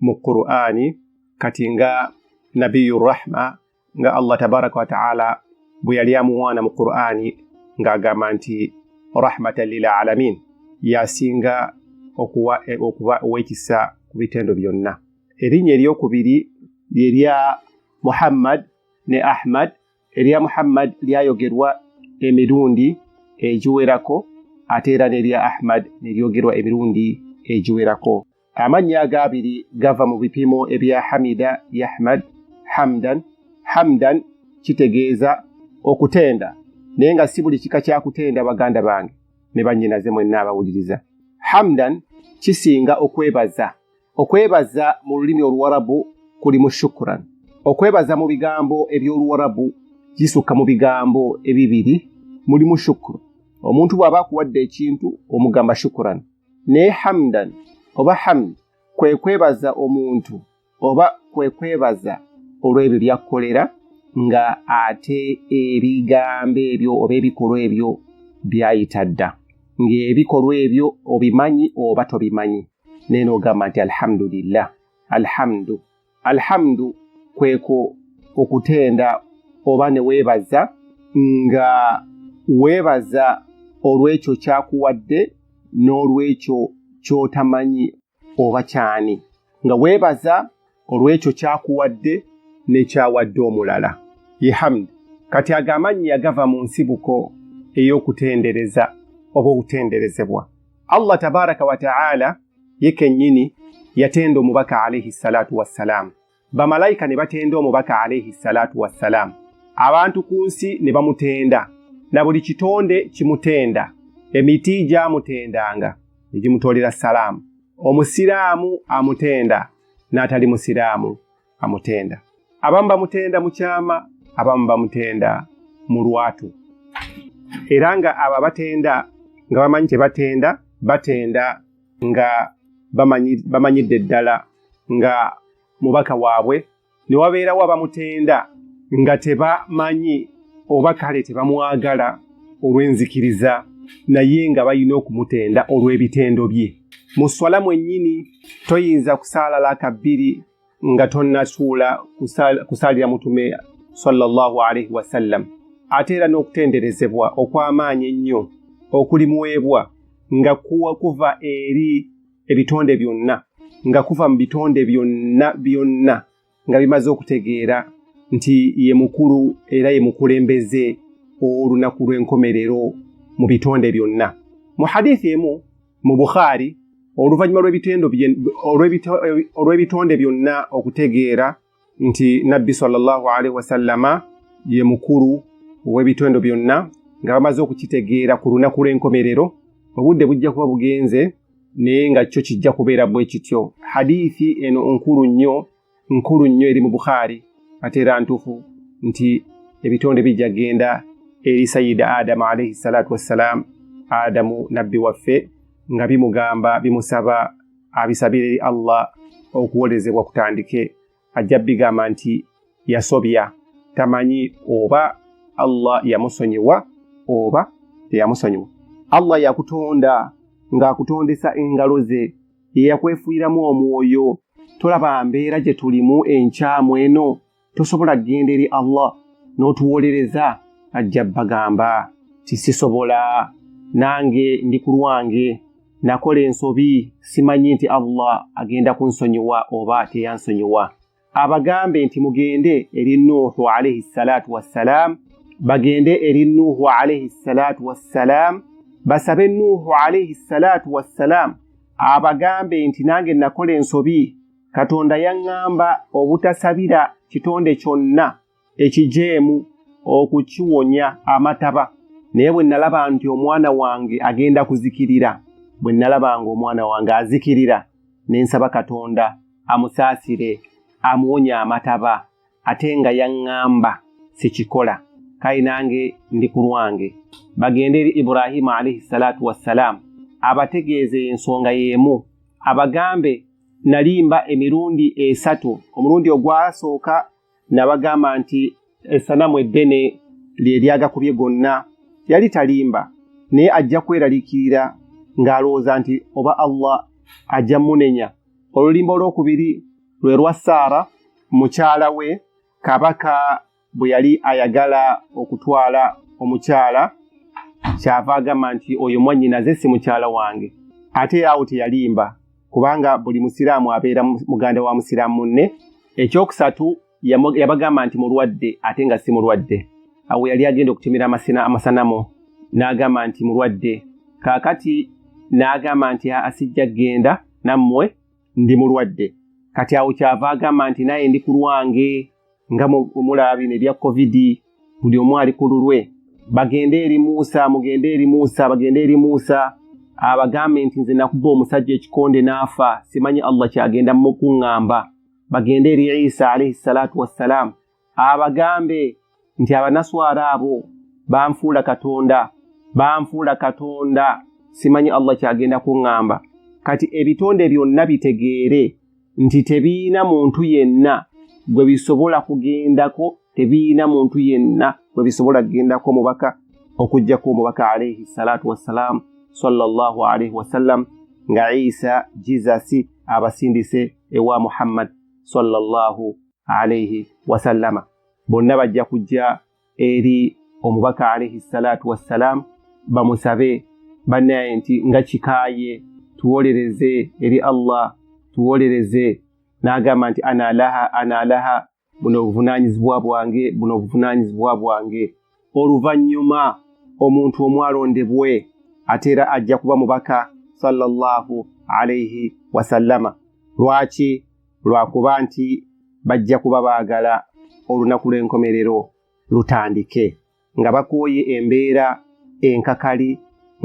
mu qur'ani kati nga nabiyu rahma nga allah tabaraka wataala bwe yali amuwaana mu qur'ani ng'agamba nti rahmatan lilalamin yasinga okuwa e, okuba owekisa ku bitendo byonna erinnya eryokubiri lyerya muhammad ne ahmad erya muhammad lyayogerwa emirundi egiwerako ate era nerya ahmad neryogerwa emirundi egiwerako amannya ago abiri gava mu bipimo ebya hamida yahmad hamdan hamdan kitegeeza okutenda naye nga si buli kika kyakutenda baganda bange ne bannyinaze mwenna abawuliriza hamdan kisinga okwebaza okwebaza mu lulimi oluwarabu kulimu shukuran okwebaza mu bigambo eby'oluwarabu kisukka mu bigambo ebibiri mulimu shukuru omuntu bw'aba akuwadde ekintu omugamba shukuran naye hamdan oba hamd kwe kwebaza omuntu oba kwe kwebaza olw'ebyo byakkolera nga ate ebigambo ebyo oba ebikolwa ebyo byayita dda ng'ebikolwa ebyo obimanyi oba tobimanyi naye n'ogamba nti alhamdulillah alhamdu alhamdu kweko okutenda oba ne weebaza nga weebaza olw'ekyo kyakuwadde n'olw'ekyo ky'otamanyi oba kyani nga weebaza olw'ekyo kyakuwadde n'ekyawadde omulala ye hamdi kati ago amannya yagava mu nsibuko ey'okutendereza oba okutenderezebwa allah tabaraka wataala ye kennyini yatenda omubaka alaihi salatu wassalaamu bamalayika ne batenda omubaka alaihi salatu wassalaamu abantu ku nsi ne bamutenda na buli kitonde kimutenda emiti gyamutendanga ne gimutoolera salaamu omusiraamu amutenda n'atali musiraamu amutenda abamu bamutenda mu kyama abamu bamutenda mu lwatu era nga abo abatenda nga bamanyi tebatenda batenda nga bamanyidde ddala nga mubaka waabwe ne wabeerawo abamutenda nga tebamanyi oba kale tebamwagala olw'enzikiriza naye nga balina okumutenda olw'ebitendo bye mu swala mwennyini toyinza kusaala laka bbiri nga tonnasuula kusaalira mutume sallallahu alaihi wasallam ate era n'okutenderezebwa okw'amaanyi ennyo okulimuweebwa nga kuwa kuva eri ebitonde byonna nga kuva mu bitonde byonna byonna nga bimaze okutegeera nti ye mukulu era ye mukulembeze ow'olunaku lw'enkomerero mu bitonde byonna mu hadithi emu mu bukhaari oluvannyuma olw'ebitonde byonna okutegeera nti nabbi salllahu alaihi wasallama ye mukulu ow'ebitendo byonna nga bamaze okukitegeera ku lunaku lw'enkomerero obudde bujja kuba bugenze naye nga kyo kijja kubeera bwe kityo hadithi eno nkulu nnyo nkulu nnyo eri mu bukhaari ate era ntuufu nti ebitonde bijja genda eri sayida adamu alaihi salatu wassalaamu adamu nabbi waffe nga bimugamba bimusaba abisabira eri allah okuwolezebwa kutandike ajja bigamba nti yasobya tamanyi oba allah yamusonyiwa oba teyamusonyiwa allah yakutonda ng'akutondesa engalo ze yeyakwefuiramu omwoyo tolaba mbeera gye tulimu enkyamu eno tosobola kugenda eri allah n'otuwolereza ajja bagamba ti sisobola nange ndi ku lwange nakola ensobi simanyi nti allah agenda kunsonyiwa oba teyansonyiwa abagambe nti mugende eri nuuhu alaihi salatu wassalam bagende eri nuuhu alaihi salatu wassalam basabe nuuhu alaihi salatu wassalam abagambe nti nange nakola ensobi katonda yaŋŋamba obutasabira kitonde kyonna ekijeemu okukiwonya amataba naye bwe nalaba nti omwana wange agenda kuzikirira bwe nalaba nga omwana wange azikirira ne nsaba katonda amusaasire amuwonya amataba ate nga yaŋŋamba sikikola kale nange ndi ku lwange bagende eri ibrahimu alaihi salatu wassalaamu abategeeze ensonga y'emu abagambe nalimba emirundi esatu omulundi ogwasooka nabagamba nti esanamu eddene lye lyagakubye gonna yali talimba naye ajja kweraliikirira ng'alowooza nti oba allah ajja munenya olulimba olwokubiri lwe lwa saara mukyala we kabaka bwe yali ayagala okutwala omukyala kyava agamba nti oyo mwannyinaze si mukyala wange ate awo teyalimba kubanga buli musiraamu abeera muganda wa musiraamu munne ekyokusatu yabagamba nti mulwadde ate nga si mulwadde awo yali agenda okutemera amasina amasanamu n'agamba nti mulwadde kaakati n'agamba nti asijja kgenda nammwe ndi mulwadde kati awo kyava agamba nti naye ndi ku lwange nga mulaabi nebya covid buli omu ali ku lulwe bagende eri muusa mugende eri muusa bagende eri muusa abagambe nti nze nakuba omusajja ekikonde n'afa simanyi allah kyagenda mukuŋŋamba bagende eri isa alaihi salatu wassalaamu abagambe nti abanaswara abo banfuula katonda banfuula katonda simanyi allah kyagenda kuŋŋamba kati ebitonde byonna bitegeere nti tebiyina muntu yenna gwe bisobola kugendako tebiyina muntu yenna gwe bisobola kugendako omubaka okujjako omubaka alaihi salatu wassalaamu sallallahu alaihi wasallam nga isa jesus abasindise ewa muhammad sallallahu alaihi wasallama bonna bajja kujja eri omubaka alaihi salatu wassalaamu bamusabe banaye nti nga kikaye tuwolereze eri allah tuwolereze n'agamba nti ana laha ana laha buno obuvunanyizibwa bwange buno obuvunanyizibwa bwange oluvannyuma omuntu omwalondebwe ate era ajja kuba mubaka sallallahu alaihi wasallama lwaki lwakuba nti bajja kuba baagala olunaku lw'enkomerero lutandike nga bakooye embeera enkakali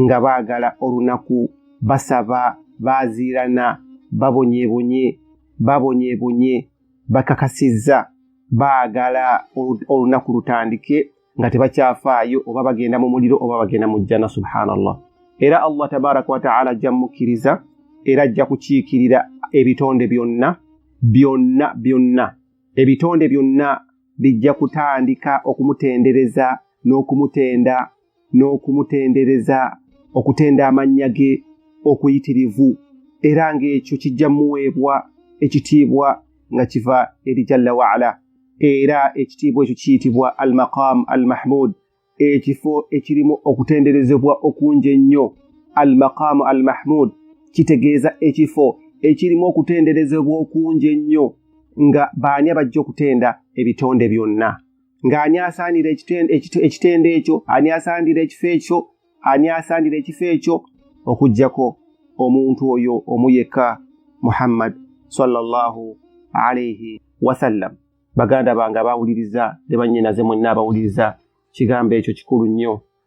nga baagala olunaku basaba baaziirana babonyebonye babonyebonye bakakasizza baagala olunaku lutandike nga tebakyafaayo oba bagenda mu muliro oba bagenda mu jjana subhanallah era allah tabaraka wataala ajja mukkiriza era ajja kukiikirira ebitonde byonna byonna byonna ebitonde byonna bijja kutandika okumutendereza n'okumutenda n'okumutendereza okutenda amannya ge okuyitirivu era ng'ekyo kijja muweebwa ekitiibwa nga kiva eri jalla waala era ekitiibwa ekyo kiyitibwa al maqam al mahmud ekifo ekirimu okutenderezebwa okungi ennyo al maqam al mahmud kitegeeza ekifo ekirimu okutenderezebwa okungi ennyo nga baani abajja okutenda ebitonde byonna ng'ani asaanira ekitendo ekyo ani asaanira ekifo ekyo ani asaanira ekifo ekyo okugyako omuntu oyo omu yekka muhammad sallallahu alaihi wasallam baganda bange abawuliriza ne bannyinaze mwenna abawuliriza kigambo ekyo kikulu nnyo